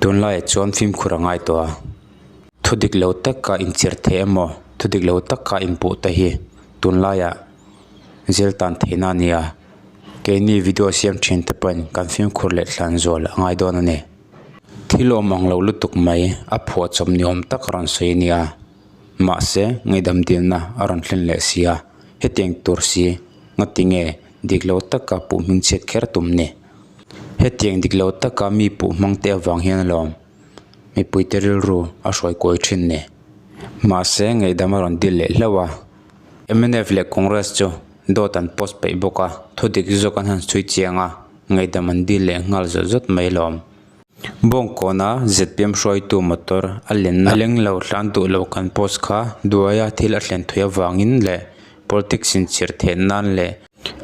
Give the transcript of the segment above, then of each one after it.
Tunlaiah chuan fimkhur a ngai tawh a, thudik lo taka inchirh theih emaw, thudik lo taka inpuh te hi tunlaiah zil tan theihna a nia. Keini video siam thin te pawhin kan fimkhur leh thlan zual a ngai dawn a ni. Thil awm ang lo lutuk mai a phuah chawm ni awm tak a rawn sawi a nia. Mahse, ngaidam dilna a rawn hlen leh si a, hetiang tur si, ngatinge dik lo taka puh hming chhiat kher tum ni? Hetiang dik lo taka mi puh hmang te avang hian alawm mipui te rilru a hruai kawi thin ni. Mahse ngaihdam a rawn dil leh hlauh a, MNF leh Congress chu dawt an post peih bawk a, thudik zawk an han sawi chiang a, ngaihdam an dil leh nghal zawt zawt mai alawm. Bawng kawna zpm hruaitu motor a lenna leng lo hlan duh lo kan post kha duaia thil a thlen thawih avangin leh politics inchhirh theih nan leh,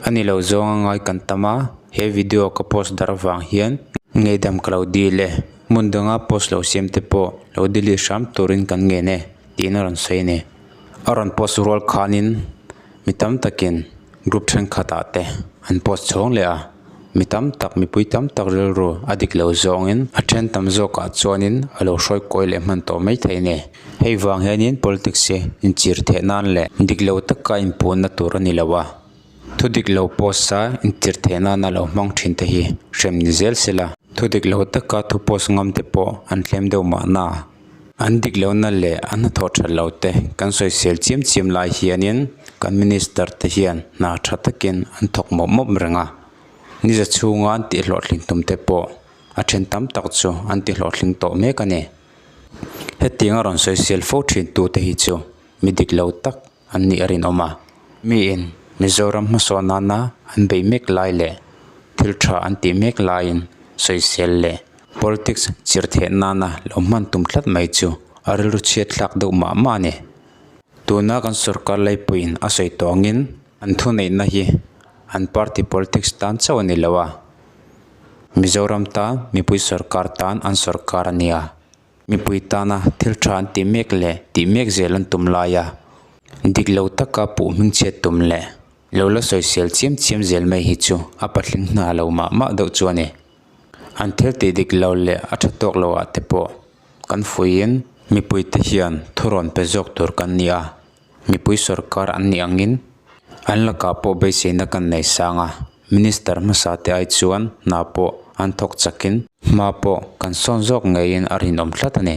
A ni lo zawng a ngai kan tam a, he video ka post dar vang hian ngaidam ka lo dil e, hmun danga post lo siam te pawh lo delete hram turin kan ngen e tiin a rawn sawi a ni. A rawn post rual khanin mi tam takin group thenkhatah te an post chhawng leh a. Mi tam tak, mipui tam tak rilru a dik lo zawngin a then tam zawkah chuanin a lo hruai kawi leh hman tawh mai thei a ni. Hei vang hianin politics hi inchir theh nan leh dik lo taka inpuhna tur a ni lo a, thu dik lo post a inchir theh nana lo hmang thin te hi hrem ni zel sela, thu dik lo taka thu post ngam te pawh an tlem deuh mahna An dik lo na leh a hnathawh that lo te kan sawisel chiam chiam lai hianin kan Minister te hian hna tha takin an thawk mawp mawp reng a. Niza chhunga an tihhlawhtling tum te pawh a then tam tak chu an tihlawhtling tawh mek a ni. Hetianga rawn sawisel fo thin tu te hi chu mi dik lo tak. an nih a rinawm a. Miin Mizoram hmasaw nana an beih mek lai leh thil tha an tih mek laiin sawisel leh politics chirh theih nana lo hman tum tlat mai chu a rilru chhiat thlak deuh mah mah a ni. Tuna kan sorkar laipuiin a sawi tawngin an thuneihna hi an party politics tan chauh a ni lo a, Mizoram tan mipui sorkar tan an sorkar a nia Mipui tana thil tha an ti mek leh tih mek zel an tum lai a, dik lo taka puh hming chhiat tum leh lo la sawi sial chiam chiam zel mai hi chu a patling hna lo mah mah deuh chu a ni. An thil tih dik lo leh a tha tawk loh ah te pawh kan fuiin mipuite hian thurawn pe zawk tur kan ni a, Mipui sorkar an nih angin an lakah pawh beiseina kan nei sang a, Minister hmasa te ai chuan hna pawh an thawk chakin hma pawh kan sawn zawk ngeiin a rinawm tlat a ni.